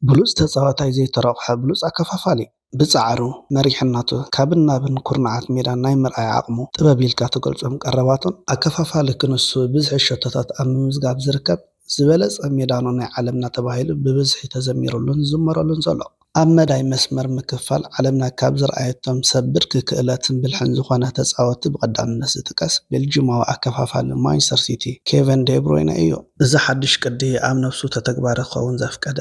ብሉጽ ተጻዋታይ ዘይተሮቕሐ ብሉጽ ኣከፋፋሊ። ብጻዕሩ፣ መሪሕን ናቱ ካብን ናብን ኩርናዓት ሜዳ ናይ ምርኣይ ዓቕሙ ጥበብ ኢልካ ትገልጾም ቀረባቱን፣ ኣከፋፋሊ ክንሱ ብዝሒ ሸቶታት ኣብ ምምዝጋብ ዝርከብ ዝበለጸ ሜዳኖ ናይ ዓለምና ተባሂሉ ብብዝሒ ተዘሚሩሉን ዝዝመረሉን ዘሎ። ኣብ መዳይ መስመር ምክፍፋል ዓለምና ካብ ዝርኣየቶም ሰብ ብርኪ ክእለትን ብልሕን ዝኾነ ተጻወቲ ብቐዳምነት ዝጥቀስ ቤልጂማዊ ኣከፋፋሊ ማንችስተር ሲቲ ኬቨን ዴብሮይነ እዩ። እዚ ሓድሽ ቅዲ ኣብ ነብሱ ተተግባሪ ክኸውን ዘፍቀደ፣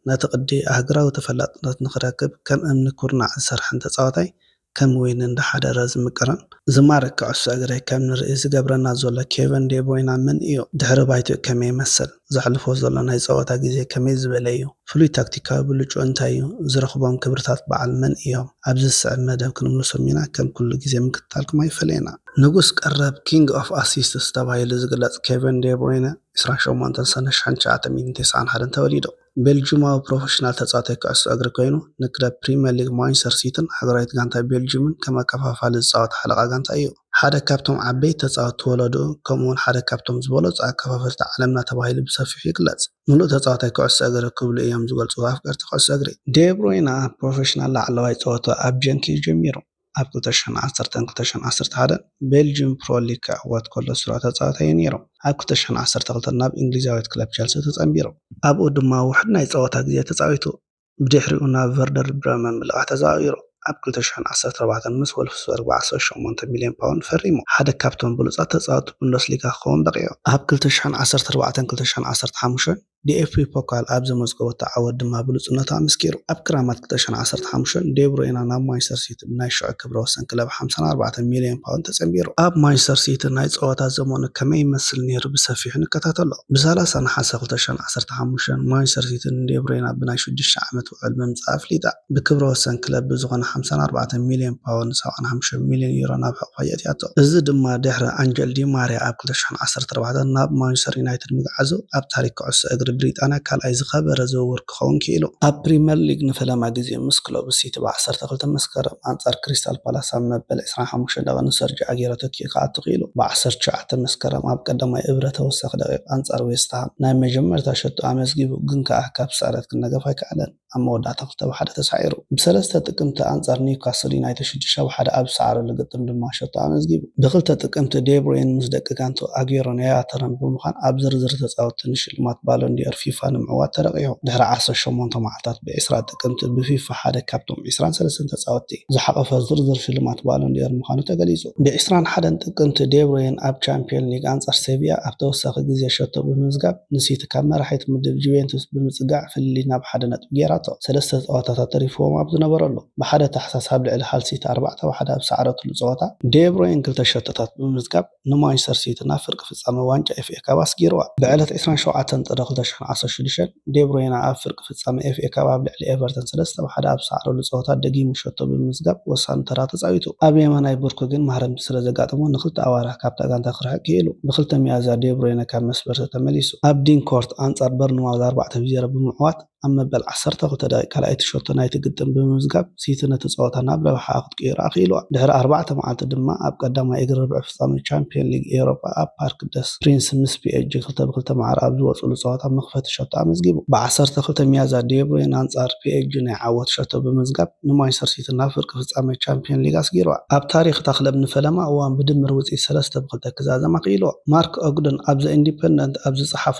ነቲ ቅዲ ኣህግራዊ ተፈላጥነት ንኽረክብ ከም እምኒ ኩርናዕ ዝሰርሐን ተጻዋታይ ከም ወይኒ እንዳሓደረ ዝምቅርን ዝማርክ ክዕሶ እግሪ ከም ንርኢ ዝገብረና ዘሎ ኬቨን ዴ ብሮይና መን እዩ? ድሕሪ ባይትኡ ከመይ ይመስል? ዘሕልፎ ዘሎ ናይ ጸወታ ግዜ ከመይ ዝበለ እዩ? ፍሉይ ታክቲካዊ ብልጭኡ እንታይ እዩ? ዝረኽቦም ክብርታት በዓል መን እዮም? ኣብዚ ዝስዕብ መደብ ክንምልሶም ኢና፣ ከም ኩሉ ግዜ ምክትታልኩም ኣይፈለየና። ንጉስ ቀረብ፣ King of Assists፣ ተባሂሉ ዝግለጽ ኬቨን ዴ ብሩይነ፣ ዕስራን ሸሞንተን ሰነ ሽሕን ትሽዓተ ሚእትን ተስዓን ሓደን ተወሊዱ። ቤልጁማዊ ፕሮፈሽናል ተጻዋታይ ኩዕሶ እግሪ ኮይኑ፣ ንክለብ ፕሪመር ሊግ ማንቸስተር ሲቲን ሃገራዊት ጋንታ ቤልጁምን ከም ኣከፋፋሊ ዝጻወት ሓለቓ ጋንታ እዩ። ሓደ ካብቶም ዓበይቲ ተጻወትቲ ወለድኡ ከምኡ'ውን ሓደ ካብቶም ዝበለጹ ኣከፋፈልቲ ዓለምና ተባሂሉ ብሰፊሑ ይግለጽ። ምሉእ ተጻዋታይ ኩዕሶ እግሪ ክብሉ እዮም ዝገልጽዎ ኣፍቀርቲ ኩዕሶ እግሪ። ዴ ብሩይነ ኣብ ፕሮፈሽናል ላዕለዋይ ጸወታ ኣብ ጀንክ እዩ ጀሚሩ። ኣብ ክልተ ሽሕን ዓሰርተን ክልተ ሽሕን ዓሰርተ ሓደን ቤልጅዩም ፕሮ ሊግ ክዕወት ከሎ ስሩዕ ተጻዋታይ እዩ ነይሩ። ኣብ ክልተ ሽሕን ዓሰርተ ክልተን ናብ እንግሊዛዊት ክለብ ቸልሲ ተጸንቢሩ። ኣብኡ ድማ ውሑድ ናይ ጸወታ ግዜ ተጻዊቱ። ብድሕሪኡ ናብ ቨርደር ብረመን ብልቓሕ ተዘዋዊሩ። ኣብ ክልተ ሽሕን ዓሰርተ ኣርባዕተን ምስ ዎልፍስበርግ ብ ዓሰርተ ሸሞንተ ሚልዮን ፓውንድ ፈሪሙ። ሓደ ካብቶም ብሉጻት ተጻወትቲ ቡንደስሊጋ ክኸውን በቒዑ። ኣብ ክልተ ሽሕን ዓሰርተ ኣርባዕተን ክልተ ሽሕን ዓሰርተ ሓሙሽተን ዲኤፍቢ ፖካል ኣብ ዘመዝገበቶ ዓወት ድማ ብሉጽነቱ ኣመስኪሩ። ኣብ ክራማት ክልተ ሽሕን ዓሰርተ ሓሙሽተን፣ ዴ ብሮይና ናብ ማንቸስተር ሲቲ ብናይ ሽዑ ክብረ ወሰን ክለብ ሓምሳን ኣርባዕተን ሚልዮን ፓውንድ ተጸንቢሩ። ኣብ ማንቸስተር ሲቲ ናይ ጸወታ ዘመኑ ከመይ ይመስል ነይሩ ብሰፊሑ ንከታተሎ። ብሰላሳ ነሓሰ ክልተ ሽሕን ዓሰርተ ሓሙሽተን፣ ማንቸስተር ሲቲ ንዴ ብሮይና ብናይ ሽዱሽተ ዓመት፣ ውዕል ምምጽኣ ኣፍሊጣ። ብክብረ ወሰን ክለብ ብዝኾነ ሓምሳን ኣርባዕተን ሚልዮን ፓውንድ፣ ሰብዓን ሓሙሽተን ሚልዮን ዩሮ፣ ናብ ሕቑፋ የእትያቶ። እዚ ድማ ድሕሪ ኣንጀል ዲ ማርያ ኣብ ክልተ ሽሕን ዓሰርተ ኣርባዕተን ናብ ማንቸስተር ዩናይትድ ምግዓዙ፣ ኣብ ታሪኽ ኩዕሶ እግሪ ብሪጣንያ ካልኣይ ዝኸበረ ዝውውር ክኸውን ክኢሉ። ኣብ ፕሪመር ሊግ ንፈለማ ግዜ ምስ ክለቡ ሲቲ ብ ዓሰርተ ክልተ መስከረም ኣንጻር ክሪስታል ፓላስ ኣብ መበል ዕስራን ሓሙሽተን ደቒቕ ንሰርጂዮ ኣጌሮ ተኪኡ። ሊግ ክኣቱ ክኢሉ። ብ ዓሰርተ ትሽዓተ መስከረም ኣብ ቀዳማይ እብረ ተወሳኺ ደቒቕ ኣንጻር ዌስትሃም ናይ መጀመርታ ሸቱ ኣመዝጊቡ ግን ከኣ ካብ ስዕረት ክነገፍ ኣይከኣለን ኣብ መወዳእታ ክልተ ብ ሓደ ተሳዒሩ። ብ ሰለስተ ጥቅምቲ ኣንጻር ኒውካስል ዩናይትድ ሽዱሽተ ብ ሓደ ኣብ ዝሰዓረሉ ግጥም ድማ ሸቶ ኣመዝጊቡ። ብ ክልተ ጥቅምቲ ዴብሩይን ምስ ደቂ ጋንትኡ ኣግየሮን ያያ ተረን ብምዃን ኣብ ዝርዝር ተጻወትቲ ንሽልማት ባሎን ዲ'ኦር ፊፋ ንምዕዋት ተረቚሑ። ድሕሪ ዓሰርተ ሸሞንተ መዓልታት ብ ዕስራ ጥቅምቲ ብ ፊፋ ሓደ ካብቶም ዕስራን ሰለስተን ተጻወትቲ ዝሓቖፈ ዝርዝር ሽልማት ባሎን ዲ'ኦር ምዃኑ ተገሊጹ። ብ ዕስራን ሓደን ጥቅምቲ ዴ ብሮይነ ኣብ ቻምፕዮን ሊግ ኣንጻር ሴቪያ ኣብ ተወሳኺ ግዜ ሸቶ ብምምዝጋብ ንሲቲ ካብ መራሒት ምድብ ጁቬንቱስ ብምጽጋዕ ፍልልይ ናብ ሓደ ነጥቢ ጌራቶ። ሰለስተ ጸወታታት ተሪፍዎም ኣብ ዝነበረሉ፣ ብሓደ ታሕሳስ ኣብ ልዕሊ ሃል ሲቲ ኣርባዕተ ብ ሓደ ኣብ ዝሰዓረትሉ ጸወታ፣ ዴ ብሮይነ ክልተ ሸቶታት ብምምዝጋብ ንማንቸስተር ሲቲ ናብ ፍርቂ ፍጻመ ዋንጫ ኤፍኤ ካፕ ኣስጊርዋ። ብዕለት ዕስራን ሸውዓተን ጥሪ ክልተ ሽሕን ዓሰርተ ሽዱሽተን፣ ዴብሮይነ ኣብ ፍርቂ ፍጻመ ኤፍኤ ካፕ ኣብ ልዕሊ ኤቨርተን ሰለስተ ብ ሓደ ኣብ ዝሰዓረሉ ጸወታ ደጊሙ ሸቶ ብምምዝጋብ ወሳኒ ተራ ተጻዊቱ። ኣብ የማናይ ብርኩ ግን ማህረምቲ ስለዘጋጠሞ ንኽልተ ኣዋርሕ ካብታ ጋንታ ክርሕቅ ክኢሉ። ብ ክልተ ሚያዝያ ዴብሮይነ ካብ መስበርሰ ተመሊሱ። ኣብ ዲን ኮርት ኣንጻር በርንማውዝ ኣርባዕተ ብ ዜሮ ብምዕዋት ኣብ መበል ዓሰርተ ክልተ ደቒቕ ካልኣይቲ ሸቶ ናይቲ ግጥም ብምምዝጋብ ሲቲ ነቲ ጸወታ ናብ ረብሓኣ ክትቅይሮ ኣኽኢሉዋ። ድሕሪ ኣርባዕተ መዓልቲ ድማ ኣብ ቀዳማይ እግሪ ርብዒ ፍጻመ ቻምፕዮን ሊግ ኤውሮጳ ኣብ ፓርክ ደስ ፕሪንስ ምስ ፒኤስጂ ክልተ ብ ክልተ ማዕረ ኣብ ዝወጽእሉ ጸወታ መኽፈቲ ሸቶ ኣመዝጊቡ። ብ ዓሰርተ ክልተ ሚያዝያ ዴብሮይነ ኣንጻር ፒኤስጂ ናይ ዓወት ሸቶ ብምምዝጋብ ንማንቸስተር ሲቲ ናብ ፍርቂ ፍጻመ ቻምፕዮን ሊግ ኣስጊሩዋ። ኣብ ታሪኽ እታ ክለብ ንፈለማ እዋን ብድምር ውጽኢት ሰለስተ ብ ክልተ ክዛዘማ ክኢሉዎ። ማርክ ኦግደን ኣብ ዘ ኢንዲፐንደንት ኣብ ዝጸሓፎ፣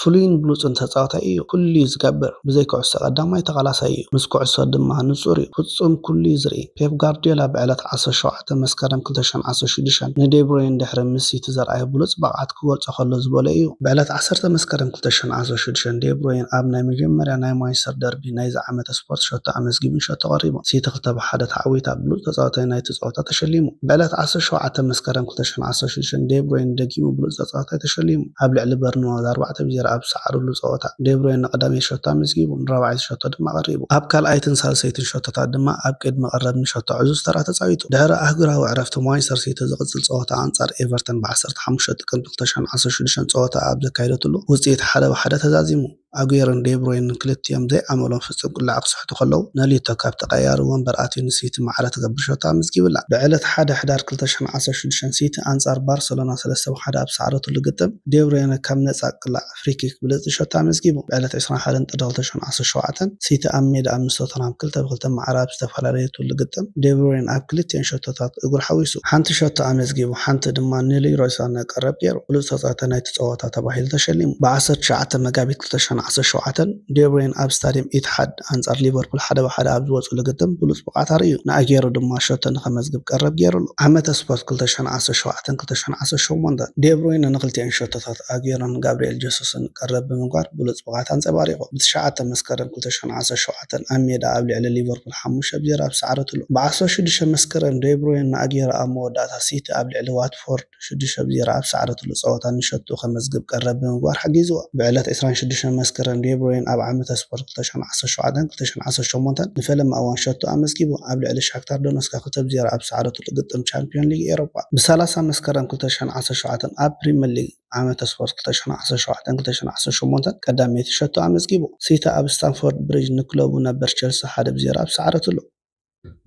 ፍሉይን ብሉጽን ተጻዋታይ እዩ፣ ኩሉ'ዩ ዝገብር፣ ብዘይ ኩዕሶ ቀዳማይ ተቓላሳይ እዩ፣ ምስ ኩዕሶ ድማ ንጹር'ዩ፣ ፍጹም ኩሉ'ዩ ዝርኢ። ፔፕ ጋርድዮላ ብዕለት ዓሰርተ ሸውዓተ መስከረም ክልተ ሽሕን ዓሰርተ ሽዱሽተን ንዴ ብሮይን ድሕሪ ምስ ሲቲ ዘርኣዮ ብሉጽ ብቕዓት ክገልጾ ከሎ ዝበሎ እዩ። ብዕለት ዓሰርተ መስከረም ክልተ ሽሕን ዓሰርተ ሽዱሽተን ዴ ብሮይን ኣብ ናይ መጀመርያ ናይ ማንቸስተር ደርቢ ናይዚ ዓመተ ስፖርት ሸቶ ኣመዝጊቡን ሸቶ ቀሪቡን ሲቲ ክልተ ብ ሓደ ተዓዊታ ብሉጽ ተጻዋታይ ናይቲ ጸወታ ተሸሊሙ። ብዕለት ዓሰርተ ሸውዓተ መስከረም ክልተ ሽሕን ዓሰርተ ሽዱሽተን ዴ ብሮይነ ደጊሙ ብሉጽ ተጻዋታይ ተሸሊሙ። ኣብ ልዕሊ በርንማውዝ ኣርባዕተ ብ ዜሮ ኣብ ዝሰዓሩሉ ጸወታ፣ ዴ ብሮይነ ንቐዳመይቲ ሸቶ ኣመዝጊቡ፣ ንራብዓይቲ ሸቶ ድማ ኣቐሪቡ። ኣብ ካልኣይትን ሳልሰይትን ሸቶታት ድማ ኣብ ቅድሚ ቀረብኒ ሸቶ ዕዙዝ ተራ ተጻዊቱ። ድሕሪ ኣህጉራዊ ዕረፍቲ፣ ማንቸስተር ሲቲ ዝቕጽል ጸወታኣ ኣንጻር ኤቨርተን ብ ዓሰርተ ሓሙሽተ ጥቅምቲ ክልተ ሽሕን ዓሰርተ ሽዱሽተን ጸወታኣ ኣብ ዘካየደትሉ፣ ውጽኢት ሓደ ብ ሓደ ተዛዚሙ። ኣጉዌሮን ደብሮይነን ክልቲኦም ዘይኣመሎም ፍጹም ቅላዕ ክስሕቱ ከለዉ፣ ነልዩቶ ካብ ተቐያያሪ ወንበር ኣትዩ ንሲቲ ማዕረ ትገብር ሸቶ ኣመዝጊብላ። ብዕለት ሓደ ሕዳር ክልተ ሽሕን ዓሰርተ ሽዱሽተን ሲቲ ኣንጻር ባርሰሎና ሰለስተ ብ ሓደ ኣብ ዝሰዓረትሉ ግጥም፣ ደብሮይነ ካብ ነጻ ቅላዕ፣ ፍሪኪክ፣ ብልጽቲ ሸቶ ኣመዝጊቡ። ብዕለት ዕስራን ሓደን ጥሪ ክልተ ሽሕን ዓሰርተ ሸውዓተን ሲቲ ኣብ ሜዳኣ ምስ ቶተንሃም ክልተ ብ ክልተ ማዕረ ኣብ ዝተፈላልየትሉ ግጥም፣ ደብሮይነ ኣብ ክልቲኤን ሸቶታት እግሩ ሓዊሱ፣ ሓንቲ ሸቶ ኣመዝጊቡ ሓንቲ ድማ ንልይሮይ ሳነ ቀረብ ጌሩ ብሉጽ ተጻዋታይ ናይቲ ጸወታ። ጀግና ተባሂሉ ተሸሊሙ። ብ ዓሰርተ ትሽዓተ መጋቢት ክልተ ሽሕን ዓሰርተ ሸውዓተን፣ ዴብሮይነ ኣብ ስታድየም ኢትሓድ ኣንጻር ሊቨርፑል ሓደ ብ ሓደ ኣብ ዝወጽእሉ ግጥም ብሉጽ ብቕዓት ኣርእዩ፣ ን ኣጌሮ ድማ ሸቶ ንኸመዝግብ ቀረብ ጌሩሉ። ዓመተ ስፖርት ክልተ ሽሕን ዓሰርተ ሸውዓተን ክልተ ሽሕን ዓሰርተ ሸሞንተን፣ ዴብሮይነ ንኽልቲኤን ሸቶታት ኣጌሮን ጋብሪኤል ጀሱስን ቀረብ ብምግባር ብሉጽ ብቕዓት ኣንጸባሪቑ። ብ ትሽዓተ መስከረም ክልተ ሽሕን ዓሰርተ ሸውዓተን፣ ኣብ ሜዳ ኣብ ልዕሊ ሊቨርፑል ሓሙሽተ ብ ዜሮ ኣብ ዝሰዓረትሉ፣ ብ ዓሰርተ ሽዱሽተ መስከረም ዴብሮይነ ን ኣጌሮ ኣብ መወዳእታ ሲቲ ኣብ ልዕሊ ዋትፎርድ፣ ሽዱሽተ ብ ዜሮ ኣብ ዝሰዓረትሉ ጸወታ ንሸቶኡ ከመዝግብ ቀረብ ብምግባር ሓጊዝዎ። ብዕለት ዕስራን ሽዱሽተን መስከረም ዴ ብሮይነ ኣብ ዓመተ ስፖርት ክልተ ሽሕን ዓሰርተ ሸውዓተን ክልተ ሽሕን ዓሰርተ ሸሞንተን ንፈለማ እዋን ሸቶ ኣመዝጊቡ ኣብ ልዕሊ ሻክታር ዶነስካ ክልተ ብ ዜሮ ኣብ ዝሰዓረትሉ ግጥም ቻምፕዮን ሊግ ኤሮጳ ብ ሰላሳ መስከረም ክልተ ሽሕን ዓሰርተ ሸውዓተን ኣብ ፕሪመር ሊግ ዓመተ ስፖርት ክልተ ሽሕን ዓሰርተ ሸውዓተን ክልተ ሽሕን ዓሰርተ ሸሞንተን ቀዳመይቲ ሸቶ ኣመዝጊቡ። ሲቲ ኣብ ስታምፎርድ ብሪጅ ንክለቡ ነበር ቸልሲ ሓደ ብ ዜሮ ኣብ ዝሰዓረትሉ።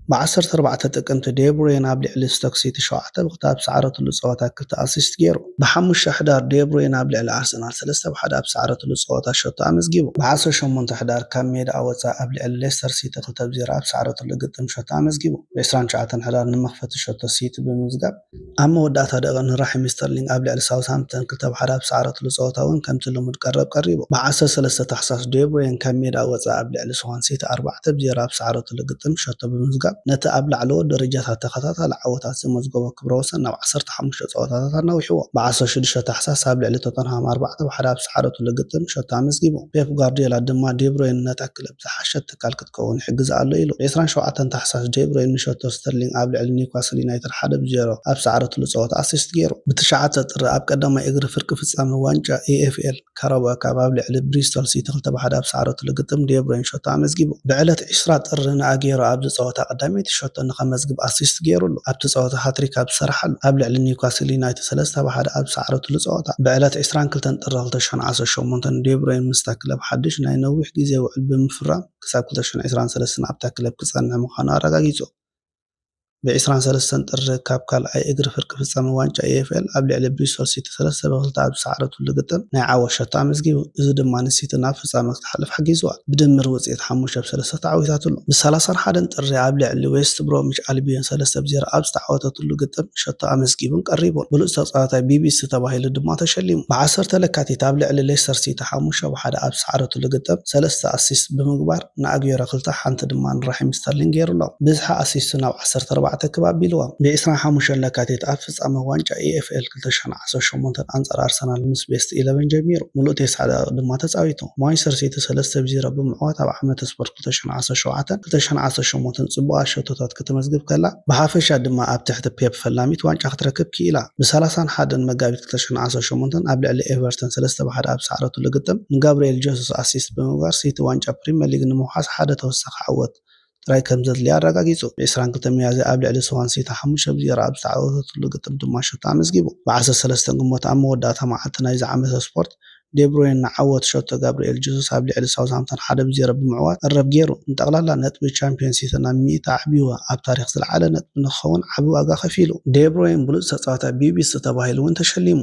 ብ ዓሰርተ ኣርባዕተ ጥቅምቲ ዴ ብሩይነ ኣብ ልዕሊ ስቶክ ሲቲ ሸውዓተ ብ ክልተ ኣብ ዝሰዓረትሉ ጸወታ ክልተ ኣሲስት ጌሩ። ብ ሓሙሽተ ሕዳር ዴ ብሩይነ ኣብ ልዕሊ ኣርሰናል ሰለስተ ብ ሓደ ኣብ ዝሰዓረትሉ ጸወታ ሸቶ ኣመዝጊቡ። ብ ዓሰርተ ሸሞንተ ሕዳር ካብ ሜዳኣ ወጻኢ ኣብ ልዕሊ ሌስተር ሲቲ ክልተ ብ ዜሮ ኣብ ዝሰዓረትሉ ግጥም ሸቶ ኣመዝጊቡ። ብ ዕስራን ትሽዓተን ሕዳር ንመኽፈቲ ሸቶ ሲቲ ብምምዝጋብ። ኣብ መወዳእታ ደቂቕን ራሒም ስተርሊንግ ኣብ ልዕሊ ሳውዝሃምፕተን ክልተ ብ ሓደ ኣብ ዝሰዓረትሉ ጸወታ ውን ከምቲ ልሙድ ቀረብ ቀሪቡ። ብ ዓሰርተ ሰለስተ ታሕሳስ ዴ ብሮይን ካብ ሜዳ ወጻኢ ኣብ ልዕሊ ስዋን ሲቲ ኣርባዕተ ብ ዜሮ ኣብ ዝሰዓረትሉ ግጥም ሸቶ ብምምዝጋብ ነቲ ኣብ ላዕለዎት ደረጃታት ተኸታታሊ ዓወታት ዘመዝገቦ ክብረ ወሰን ናብ ዓሰርተ ሓሙሽተ ጸወታታት ኣናዊሕዎ። ብ ዓሰርተ ሽዱሽተ ታሕሳስ ኣብ ልዕሊ ቶተንሃም ኣርባዕተ ብ ሓደ ኣብ ዝሰዓረትሉ ግጥም ሸቶ ኣመዝጊቡ። ፔፕ ጓርድዮላ ድማ ዴ ብሮይን ነታ ክለብ። ዝሓሸት ትካል ክትከውን ይሕግዛ ኣሎ ኢሉ። ዕስራን ሸውዓተን ታሕሳስ ዴ ብሮይን ንሸቶ ስተርሊንግ ኣብ ልዕሊ ኒውካስል ዩናይትድ ሓደ ብ ዜሮ ኣብ ዝሰዓረትሉ ጸወታ ኣሲስት ጌሩ። ብ ትሽዓተ ጥሪ ኣብ ቀዳማይ እግሪ ፍርቂ ፍጻመ ዋንጫ EFL ካራባኦ ካፕ ኣብ ልዕሊ ብሪስቶል ሲቲ ክልተ ብ ሓደ ኣብ ዝሰዓረትሉ ግጥም ዴ ብሮይን ሸቶ ኣመዝጊቡ። ብ ዕለት ዕስራ ጥሪ ን ኣጌሮ ኣብዚ ጸወታ ቀዳመይቲ ሸቶ ንከመዝግብ ኣሲስት ጌሩሉ። ኣብቲ ጸወታ ሃትሪክ ኣብ ዝሰርሓሉ ኣብ ልዕሊ ኒውካስል ዩናይትድ ሰለስተ ብ ሓደ ኣብ ዝሰዓረትሉ ጸወታ፣ ብዕለት ዕስራን ክልተን ጥሪ ክልተ ሽሕን ዓሰርተ ሸሞንተን ዴ ብሮይን ምስታ ክለብ ሓድሽ ናይ ነዊሕ ግዜ ውዕል ብምፍራም ክሳብ ክልተ ሽሕን ዕስራን ሰለስተን ኣብታ ክለብ ክጸንሕ ምዃኑ ኣረጋጊጹ። ብ ዕስራን ሰለስተን ጥሪ ካብ ካልኣይ እግሪ ፍርቂ ፍጻመ ዋንጫ EFL ኣብ ልዕሊ ብሪስቶል ሲቲ ሰለስተ ብ ክልተ ኣብ ዝሰዓረትሉ ግጥም ናይ ዓወት ሸቶ ኣመዝጊቡ። እዚ ድማ ንሲቲ ናብ ፍጻመ ክትሓልፍ ሓጊዝዋ። ብድምር ውጽኢት ሓሙሽተ ብ ሰለስተ ተዓዊታትሉ። ብ ሰላሳን ሓደን ጥሪ ኣብ ልዕሊ ዌስት ብሮምዊች ኣልቢዮን ሰለስተ ብ ዜሮ ኣብ ዝተዓወተትሉ ግጥም ሸቶ ኣመዝጊቡን ቀሪቡን። ብሉጽ ተጻዋታይ ቢቢሲ ተባሂሉ ድማ ተሸሊሙ። ብ ዓሰርተ ለካቲት ኣብ ልዕሊ ሌስተር ሲቲ ሓሙሽተ ብ ሓደ ኣብ ዝሰዓረትሉ ግጥም ሰለስተ ኣሲስት ብምግባር ን ኣግዌሮ ክልተ ሓንቲ ድማ ን ራሒም ስተርሊንግ ጌሩሎም። ብዝሒ ኣሲስቱ ናብ ዓሰርተ ኣርባዕተ ክብ ኣቢልዎም። ብ ዕስራን ሓሙሽተን ለካቲት ኣብ ፍጻመ ዋንጫ EFL፣ ክልተ ሽሕን ዓሰርተ ሸሞንተን ኣንጻር ኣርሰናል ምስ ቤስት ኢለቨን ጀሚሩ፣ ምሉእ ተስዓ ደቒቕ ድማ ተጻዊቱ። ማንቸስተር ሲቲ ሰለስተ ብ ዜሮ ብምዕዋት ኣብ ዓመተ ስፖርት ክልተ ሽሕን ዓሰርተ ሸውዓተን ክልተ ሽሕን ዓሰርተ ሸሞንተን ጽቡቓት ሸቶታት ከተመዝግብ ከላ፣ ብሓፈሻ ድማ ኣብ ትሕቲ ፔፕ ፈላሚት ዋንጫ ክትረክብ ክኢላ። ብ ሰላሳን ሓደን መጋቢት ክልተ ሽሕን ዓሰርተ ሸሞንተን ኣብ ልዕሊ ኤቨርተን ሰለስተ ብ ሓደ ኣብ ዝሰዓረትሉ ግጥም፣ ንጋብርኤል ጀሱስ ኣሲስት ብምግባር ሲቲ ዋንጫ ፕሪመር ሊግ ንምውሓስ ሓደ ተወሳኺ ዓወት ጥራይ ከም ዘድልያ ኣረጋጊጹ። ብ ዕስራን ክልተን ሚያዝያ ኣብ ልዕሊ ስዋንሲቲ ሓሙሽተ ብ ዜሮ ኣብ ዝተዓወተትሉ ግጥም ድማ ሸቶ ኣመዝጊቡ። ብ ዓሰርተ ሰለስተ ግንቦት ኣብ መወዳእታ መዓልቲ ናይዚ ዓመተ ስፖርት፣ ዴብሩይነ ንዓወት ሸቶ ጋብሪኤል ጀሱስ ኣብ ልዕሊ ሳውዝሃምፕተን ሓደ ብ ዜሮ ብምዕዋት ዕረብ ገይሩ። ንጠቕላላ ነጥቢ ቻምፕዮን ሲቲ ናብ ሚእቲ ኣዕብይዎ፣ ኣብ ታሪኽ ዝለዓለ ነጥቢ ንክኸውን ዓቢ ዋጋ ከፊሉ። ዴብሩይነ ብሉጽ ተጻዋታይ ቢቢሲ ተባሂሉ'ውን ተሸሊሙ።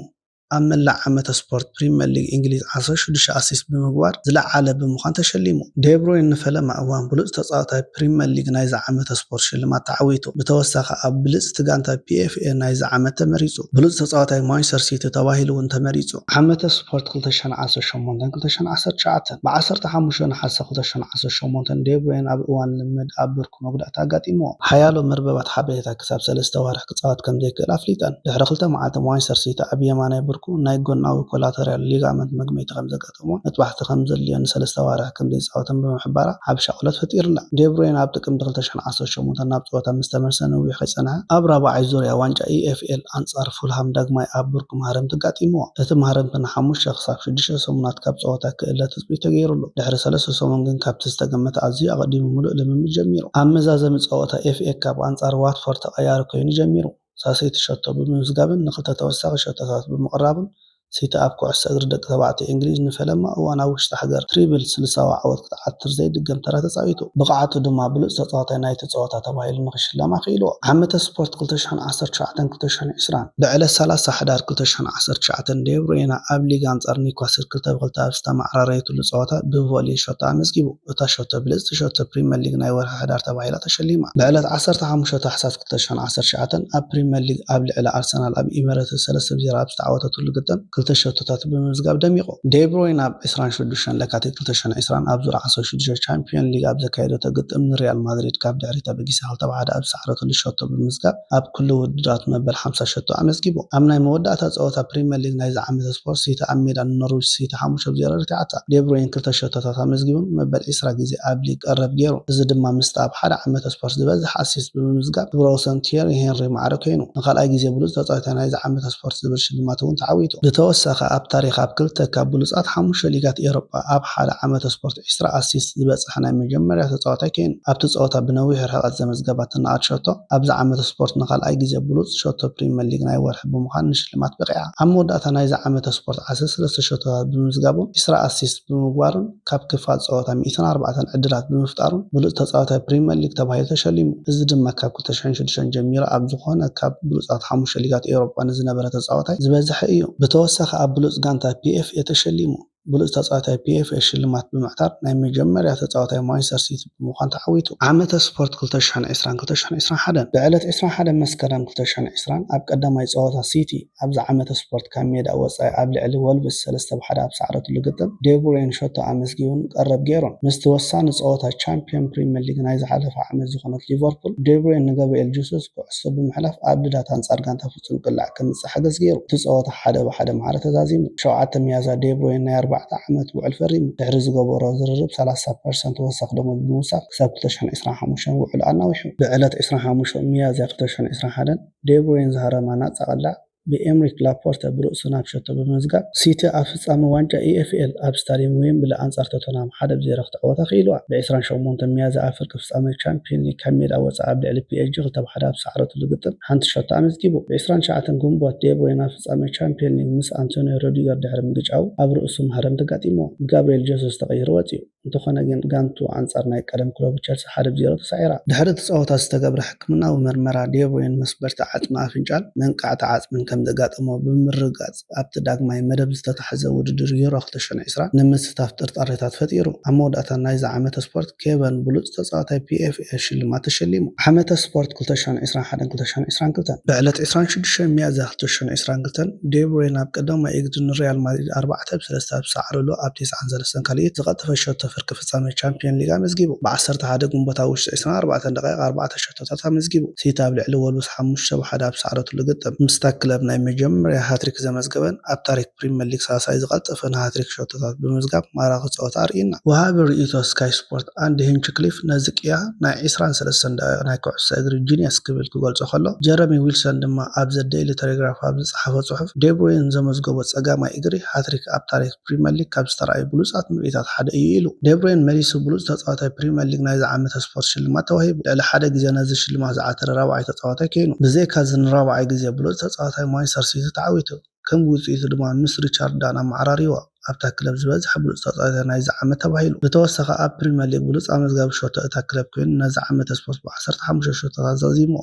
ኣብ መላእ ዓመተ ስፖርት ፕሪመር ሊግ እንግሊዝ ዓስራ ሽዱሽተ ኣሲስት ብምግባር ዝለዓለ ብምዃን ተሸሊሙ። ዴብሮይን ንፈለማ እዋን ብሉጽ ተጻዋታይ ፕሪመር ሊግ ናይዚ ዓመተ ስፖርት ሽልማት ተዓዊቱ። ብተወሳኺ ኣብ ብልጽቲ ጋንታ ፒኤፍኤ ናይዚ ዓመት ተመሪጹ። ብሉጽ ተጻዋታይ ማንቸስተር ሲቲ ተባሂሉ'ውን ተመሪጹ። ዓመተ ስፖርት ክልተ ሽሕን ዓሰርተ ሸሞንተን ክልተ ሽሕን ዓሰርተ ትሽዓተን፣ ብዓሰርተ ሓሙሽተ ነሓሰ ክልተ ሽሕን ዓሰርተ ሸሞንተን ዴብሮይን ኣብ እዋን ልምምድ ኣብ ብርኩ፣ መጉዳእቲ ኣጋጢምዎ። ሓያሎ መርበባት ሓበሬታ ክሳብ ሰለስተ ኣዋርሕ ክጻወት ከም ዘይክእል ኣፍሊጠን። ድሕሪ ክልተ መዓልቲ ማንቸስተር ሲቲ ኣብ የማናይ ብርኩ ናይ ጎናዊ ኮላተርያል ሊጋመንት መግመይቲ ከም ዘጋጠሞን መጥባሕቲ ከም ዘድልዮን ንሰለስተ ኣዋርሕ ከም ዘይጻወተን ብምሕባራ ዓቢ ሻቕሎት ፈጢሩላ። ዴብሮይነ ኣብ ጥቅምቲ ክልተ ሽሕን ዓሰርተ ሸሞንተን ናብ ጸወታ ምስ ተመልሰ ነዊሕ ከይጸንሐ፣ ኣብ ራብዓይ ዙርያ ዋንጫ EFL ኣንጻር ፉልሃም ዳግማይ ኣብ ብርኩ ማህረምቲ ኣጋጢምዎ። እቲ ማህረምቲ ንሓሙሽተ ክሳብ ሽዱሽተ ሰሙናት ካብ ጸወታ ክእለ ትጽቢት ተገይሩሉ። ድሕሪ ሰለስተ ሰሙን ግን ካብቲ ዝተገመተ ኣዝዩ ኣቐዲሙ ምሉእ ልምምድ ጀሚሩ። ኣብ መዛዘሚ ጸወታ ኤፍኤ ካፕ ኣንጻር ዋትፎርድ ተቐያሪ ኰይኑ ጀሚሩ። ሳሴቲ ሸቶ ብምምዝጋብን ንኽልተ ተወሳኺ ሸቶታት ብምቕራቡን ሲቲ ኣብ ኩዕሶ እግሪ ደቂ ተባዕትዮ እንግሊዝ ንፈለማ እዋን ኣብ ውሽጢ ሃገር ትሪብል ስልሳዊ ዓወት ክትዓትር ዘይድገም ተራ ተጻዊቱ። ብቕዓቱ ድማ ብሉጽ ተጻዋታይ ናይቲ ጸወታ ተባሂሉ ንኽሽለም ኣኽኢልዎ። ዓመተ ስፖርት ክልተ ሽሕን ዓሰርተ ትሽዓተን ክልተ ሽሕን ዕስራን። ብዕለት ሰላሳ ሕዳር ክልተ ሽሕን ዓሰርተ ትሽዓተን ዴ ብሩይነ ኣብ ሊግ ኣንጻር ኒውካስል ክልተ ብክልተ ኣብ ዝተመዓራረየትሉ ጸወታ ብቮሊ ሸቶ ኣመዝጊቡ። እታ ሸቶ ብልጽቲ ሸቶ ፕሪመር ሊግ ናይ ወርሒ ሕዳር ተባሂላ ተሸሊማ። ብዕለት ዓሰርተ ሓሙሽተ ታሕሳስ ክልተ ሽሕን ዓሰርተ ትሽዓተን ኣብ ፕሪመር ሊግ ኣብ ልዕሊ ኣርሰናል ኣብ ኢሚረትስ ሰለስተ ብ ዜሮ ኣብ ዝተዓወተትሉ ግጥም ክልተ ሸቶታት ብምምዝጋብ ደሚቑ። ዴ ብሩይነ ኣብ ዕስራን ሽዱሽተን ለካቲት ክልተ ሽሕን ዕስራን ኣብ ዙር ዓሰርተ ሽዱሽተ ቻምፕዮን ሊግ ኣብ ዘካየደቶ ግጥም ንሪያል ማድሪድ ካብ ድሕሪት ኣበጊሳ ክልተ ብ ሓደ ኣብ ዝሰዓረትሉ ሸቶ ብምምዝጋብ ኣብ ኩሉ ውድድራት መበል ሓምሳ ሸቶ ኣመዝጊቡ። ኣብ ናይ መወዳእታ ጸወታ ፕሪመር ሊግ ናይዚ ዓመት ስፖርት ሲቲ ኣብ ሜዳ ንኖርዊች ሲቲ ሓሙሽተ ብ ዜሮ ረቲዓታ። ዴብሮይን ክልተ ሸቶታት ኣመዝጊቡን መበል ዕስራ ግዜ ኣብ ሊግ ቀረብ ጌሩ። እዚ ድማ ምስቲ ኣብ ሓደ ዓመተ ስፖርት ዝበዝሕ ኣሲስት ብምምዝጋብ ክብረወሰን ቲየሪ ሄንሪ ማዕረ ኮይኑ። ንካልኣይ ግዜ ብሉጽ ተጻዋታይ ናይዚ ዓመተ ስፖርት ዝብል ሽልማት እውን ተዓዊቱ። ብተወሳኺ ኣብ ታሪኽ ኣብ ክልተ ካብ ብሉጻት ሓሙሽተ ሊጋት ኤሮጳ ኣብ ሓደ ዓመተ ስፖርት ዒስራ ኣሲስት ዝበጽሓ ናይ መጀመርያ ተጻዋታይ ኬይኑ፣ ኣብቲ ጸወታ ብነዊሕ ርሕቐት ዘመዝገባ ትናኣድ ሸቶ፣ ኣብዚ ዓመተ ስፖርት ንኻልኣይ ግዜ ብሉጽ ሸቶ ፕሪመር ሊግ ናይ ወርሒ ብምዃን ንሽልማት በቒዓ። ኣብ መወዳእታ ናይዚ ዓመተ ስፖርት ዓሰርተ ሰለስተ ሸቶታት ብምምዝጋቡን ዒስራ ኣሲስት ብምግባሩን ካብ ክፋል ጸወታ ሚእትን ኣርባዕተን ዕድላት ብምፍጣሩን ብሉጽ ተጻዋታይ ፕሪመር ሊግ ተባሂሉ ተሸሊሙ። እዚ ድማ ካብ ክልተ ሽሕን ሽዱሽተን ጀሚሩ ኣብ ዝኾነ ካብ ብሉጻት ሓሙሽተ ሊጋት ኤውሮጳ ንዝነበረ ተጻዋታይ ዝበዝሐ እዩ። ብተወሳኺ ኣብ ብሉጽ ጋንታ PFA ተሸሊሙ። ብሉጽ ተጻዋታይ ፒኤፍኤ ሽልማት ብምዕታር ናይ መጀመርያ ተጻዋታይ ማንቸስተር ሲቲ ብምዃን ተዓዊቱ። ዓመተ ስፖርት ክልተ ሽሕን ዕስራን ክልተ ሽሕን ዕስራን ሓደን፣ ብዕለት ዕስራን ሓደን መስከረም ክልተ ሽሕን ዕስራን ኣብ ቀዳማይ ጸወታ ሲቲ ኣብዚ ዓመተ ስፖርት ካብ ሜዳ ወጻኢ ኣብ ልዕሊ ወልቭስ ሰለስተ ብ ሓደ ኣብ ዝሰዓረትሉ ግጥም ዴቡሬን ሸቶ ኣመዝጊቡን ቀረብ ጌሩን። ምስቲ ወሳኒ ጸወታ ቻምፕዮን ፕሪመር ሊግ ናይ ዝሓለፈ ዓመት ዝኾነት ሊቨርፑል፣ ዴቡሬን ንገብርኤል ጁሱስ ኩዕሶ ብምሕላፍ ኣብ ልዳት ኣንጻር ጋንታ ጽንቅላዕ ከምጽእ ሓገዝ ገይሩ። እቲ ጸወታ ሓደ ብ ሓደ ማዕረ ተዛዚሙ። ሸውዓተ ሚያዝያ ደብሮይነ ናይ ኣርባዕተ ዓመት ውዕል ፈሪሙ። ድሕሪ ዝገበሮ ዝርርብ ሰላሳ ፐርሰንት ወሰኽ ደሞዝ ብምውሳኽ ክሳብ ክልተ ሽሕን ዕስራን ሓሙሽተን ውዕሉ ኣናዊሑ። ብ ዕለት ዕስራን ሓሙሽተን ሚያዝያ ክልተ ሽሕን ዕስራን ሓደን ደብሮይን ዝሃረማ ናጻ ቅላዕ ብ ኤምሪክ ላፖርተ ብርእሱ ናብ ሸቶ ብምምዝጋብ ሲቲ ኣብ ፍጻመ ዋንጫ EFL ኣብ ስታድየም ዌምብሊ ኣንጻር ቶተንሃም ሓደ ብ ዜሮ ክትዕወታ ክኢልዋ። ብ ዕስራን ሸሞንተን ሚያዝያ ኣብ ፍርቂ ፍጻመ ቻምፕዮን ሊግ ካብ ሜዳ ወጻኢ ኣብ ልዕሊ ፒኤስጂ ክልተ ብ ሓደ ኣብ ዝሰዓረትሉ ግጥም ሓንቲ ሸቶ ኣመዝጊቡ። ብ ዕስራን ትሽዓተን ግንቦት ዴብሮይነ ኣብ ፍጻመ ቻምፕዮን ሊግ ምስ ኣንቶንዮ ሮዲገር ድሕሪ ምግጫዉ ኣብ ርእሱ ማህረምቲ ኣጋጢምዎ ብ ጋብርየል ጀሱስ ተቐይሩ ወጺኡ። እንተኾነ ግን ጋንትኡ ኣንጻር ናይ ቀደም ክለቡ ቸልሲ ሓደ ብ ዜሮ ተሳዒራ። ድሕሪ እቲ ጸወታ ዝተገብረ ሕክምናዊ መርመራ ዴብሮይነ መስበርቲ ዓጽሚ ኣፍንጫን መንቃዕቲ ዓጽምን ከም ዘጋጠሞ ብምርግጋጽ፣ ፕረዚደንት ኣብቲ ዳግማይ መደብ ዝተታሕዘ ውድድር ዩሮ ክልተ ሽሕን ዕስራን ንምስታፍ ጥርጣሬታት ፈጢሩ። ኣብ መወዳእታ ናይዚ ዓመተ ስፖርት ኬቨን ብሉጽ ተጻዋታይ ፒኤፍኤ ሽልማት ተሸሊሙ። ዓመተ ስፖርት ክልተ ሽሕን ዕስራን ሓደን ክልተ ሽሕን ዕስራን ክልተን። ብዕለት ዕስራን ሽዱሽተን ሚያዝያ ክልተ ሽሕን ዕስራን ክልተን፣ ዴ ብሩይነ ኣብ ቀዳማይ እግሪ ንሪያል ማድሪድ ኣርባዕተ ብ ሰለስተ ኣብ ዝሰዓረሉ ኣብ ቴስዓን ሰለስተን ካልኢት ዝቐጠፈ ሸቶ ፍርቂ ፍጻመ ቻምፕዮን ሊግ ኣመዝጊቡ። ብ ዓሰርተ ሓደ ግንቦት ኣብ ውሽጢ ዕስራን ኣርባዕተን ደቓይቕ ኣርባዕተ ሸቶ። ሕቶታት ኣመዝጊቡ። ሲቲ ኣብ ልዕሊ ወልቭስ ሓሙሽተ ብ ሓደ ኣብ ዝሰዓረትሉ ግጥም፣ ምስታ ክለብ ናይ መጀመርያ ሃትሪክ ዘመዝገበን ኣብ ታሪክ ፕሪመር ሊግ ሳልሳይ ዝቀልጠፈ ንሃትሪክ ሸቶታት ብምምዝጋብ ማራኺ ጸወታ ኣርእዩና። ወሃቢ ርእይቶ ስካይ ስፖርት ኣንዲ ሂንችክሊፍ ነዚ ቅያ ናይ ዕስራን ሰለስተን ደቂቅ ናይ ኩዕሶ እግሪ ጂንየስ ክብል ክገልጾ ከሎ፣ ጀረሚ ዊልሰን ድማ ኣብ ዘ ደይሊ ተሌግራፍ ኣብ ዝጸሓፎ ጽሑፍ፣ ዴብሩይን ዘመዝገቦ ጸጋማይ እግሪ ሃትሪክ ኣብ ታሪክ ፕሪመር ሊግ ካብ ዝተራእዩ ብሉጻት ምርኢታት ሓደ እዩ ኢሉ። ደብሮይነ መሊሱ ብሉጽ ተጻዋታይ ፕሪመር ሊግ ናይዚ ዓመተ ስፖርት ሽልማት ተዋሂቡ። ልዕሊ ሓደ ግዜ ነዚ ሽልማት ዝዓተረ ራብዓይ ተጻዋታይ ኴይኑ። ብዘይካዚ ንራብዓይ ግዜ ብሉጽ ተጻዋታይ ማንቸስተር ሲቲ ተዓዊቱ። ከም ውጽኢቱ ድማ ምስ ሪቻርድ ዳን ኣመዓራርይዎ ኣብታ ክለብ ዝበዝሐ ብሉጽ ተጻዋታይ ናይዚ ዓመት ተባሂሉ። ብተወሳኺ ኣብ ፕሪመር ሊግ ብሉጽ ኣመዝጋቢ ሾቶ እታ ክለብ ኰይኑ ነዚ ዓመተ ስፖርት ብዓሰርተ ሓሙሽተ ሾቶታት ዛዚምዎ።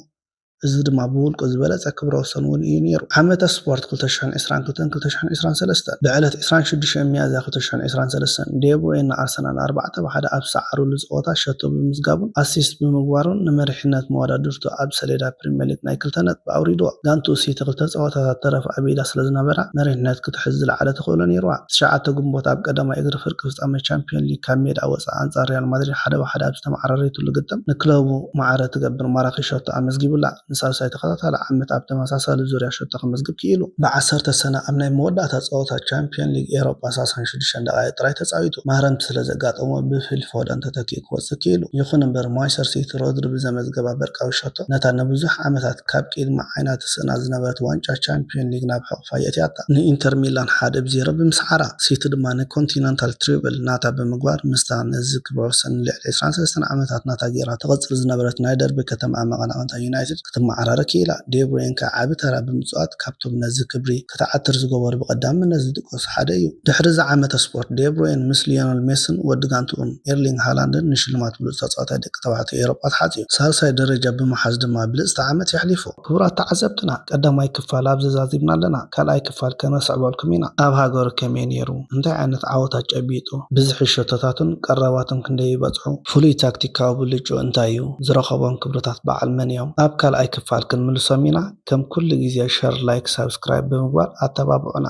እዚ ድማ ብውልቁ ዝበለጸ ክብረ ወሰን እውን እዩ ነይሩ። ዓመተ ስፖርት ክልተ ሽሕን ዕስራን ክልተን ክልተ ሽሕን ዕስራን ሰለስተን፣ ብዕለት ዕስራን ሽዱሽተን ሚያዝያ ክልተ ሽሕን ዕስራን ሰለስተን፣ ዴ ብሮይን ንኣርሰናል ኣርባዕተ ብ ሓደ ኣብ ዝሰዓሩሉ ጸወታ ሸቶ ብምምዝጋቡን ኣሲስት ብምግባሩን ንመሪሕነት መወዳድርቱ ኣብ ሰሌዳ ፕሪመሊግ ናይ ክልተ ነጥቢ ኣውሪድዎ። ጋንትኡ ሲቲ ክልተ ጸወታታት ተረፍ ኣብ ኢዳ ስለዝነበራ መሪሕነት ክትሕዝ ዝለዓለ ተኽእሎ ነይሩዋ። ትሽዓተ ግንቦት ኣብ ቀዳማይ እግሪ ፍርቂ ፍጻመ ቻምፕዮን ሊግ ካብ ሜድኣ ወጻኢ ኣንጻር ሪያል ማድሪድ ሓደ ብ ሓደ ኣብ ዝተመዓራረዩትሉ ግጥም ንክለቡ ማዕረ እትገብር ማራኺ ሸቶ ኣመዝጊቡላ። ንሳልሳይ ተኸታታሊ ዓመት ኣብ ተመሳሳሊ ዙርያ ሸቶ ከመዝግብ ክኢሉ። ብዓሰርተ ሰነ ኣብ ናይ መወዳእታ ጸወታ ቻምፕዮን ሊግ ኤሮጳ ሳሳን ሽዱሽተን ደቓይቕ ጥራይ ተጻዊቱ። ማህረምቲ ስለዘጋጠሞ ብፊል ፎደን ተተኪኡ ክወጽእ ክኢሉ። ይኹን'ምበር ማይሰር ሲቲ ሮድሪ ብዘመዝገባ በርቃዊት ሸቶ ነታ ንብዙሕ ዓመታት ካብ ቅድሚ ዓይና ትስእና ዝነበረት ዋንጫ ቻምፕዮን ሊግ ናብ ሕቑፋ የእትያታ። ንኢንተር ሚላን ሓደ ብ ዜሮ ብምስዓራ፣ ሲቲ ድማ ን ኮንቲነንታል ትሪብል ናታ ብምግባር ምስታ ነዚ ክብረ ወሰን ን ልዕሊ ዕስራን ሰለስተን ዓመታት ናታ ጌራ ተቐጽል ዝነበረት ናይ ደርቢ ከተማኣ መቐናቕንታ ዩናይትድ ክትመዓራረ ክኢላ። ዴብሮይን ከኣ ዓቢ ተራ ብምጽዋት ካብቶም ነዚ ክብሪ ክትዓትር ዝገበሩ ብቐዳምነት ዝጥቀሱ ሓደ እዩ። ድሕሪ እዚ ዓመተ ስፖርት፣ ዴብሮይን ምስ ሊዮነል ሜስን ወዲ ጋንትኡን ኤርሊንግ ሃላንድን ንሽልማት ብሉጽ ተጻዋታይ ደቂ ተባዕትዮ ኤውሮጳ ተሓጽዩ። ሳልሳይ ደረጃ ብምሓዝ ድማ ብልጽቲ ዓመት የሕሊፉ። ክቡራት ተዓዘብትና ቀዳማይ ክፋል ኣብዚ ዛዚምና ኣለና ካልኣይ ክፋል ከነስዕበልኩም ኢና ኣብ ሃገሩ ከመይ ኔሩ እንታይ ዓይነት ዓወታት ጨቢጡ ብዝሒ ሸቶታቱን ቀረባቱን ክንደይ ይበጽሑ ፍሉይ ታክቲካዊ ብልጭኡ እንታይ እዩ ዝረኸቦም ክብርታት በዓል መን እዮም ኣብ ካልኣይ ክፋል ክንምልሶም ኢና ከም ኩሉ ግዜ ሸር ላይክ ሳብስክራይብ ብምግባር ኣተባብዑና።